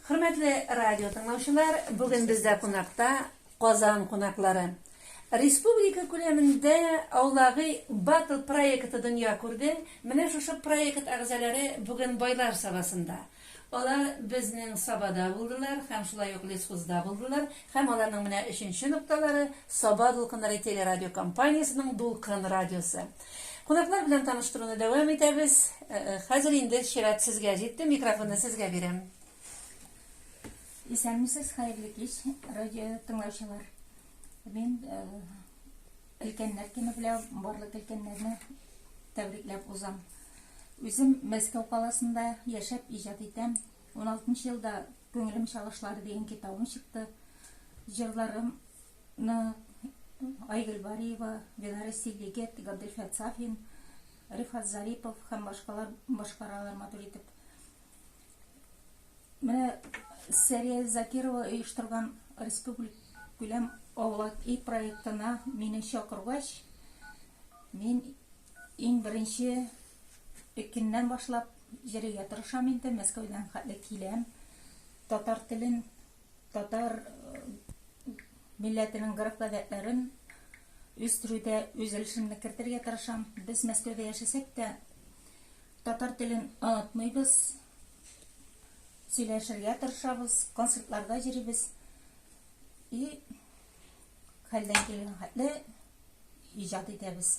Хөрмәтле радио тыңлаучылар, бүген бездә кунакта Казан кунаклары. Республика күләмендә Аулагый Батл проекты дөнья күрде. Менә шушы проект әгъзаләре бүген Байлар Сабасында. Алар безнең Сабада булдылар һәм шулай ук Лесхозда булдылар һәм аларның менә өченче нокталары, Саба дулкыннары телерадиокомпаниясенең Дулкын радиосы. Кунаклар белән таныштыруны дәвам итәбез. Хәзер инде чират сезгә җитте, микрофонны сезгә бирәм. Исәнмесез, хәерле кич, радио тыңлаучылар. Мин өлкәннәр көне белән барлык өлкәннәрне тәбрикләп узам. Үзем Мәскәү каласында яшәп иҗат итәм. 16 елда Күңелем чалышлары дигән китабым чыкты. Җырларым ны Айгөл Бариева, Беларуси Легет, Габделфәт Сафин, Рифат Зарипов һәм башкалар башкаралар матур итеп. Менә Сәрия Закирова оештырган республик күләм авылак и проектына мине чакыргач, мин иң беренче пекиннән башлап җырыйга тырышам инде, Мәскәүдән хәтле киләм. Татар телен Татар милләтенең гореф-гадәтләрен үстерүдә үз өлешемне кертергә тырышам. Без Мәскәүдә яшәсәк тә, татар телен онытмыйбыз. Сөйләшергә тырышабыз, концертларда йөрибез. И хәлдән килгән хәтле иҗат итәбез.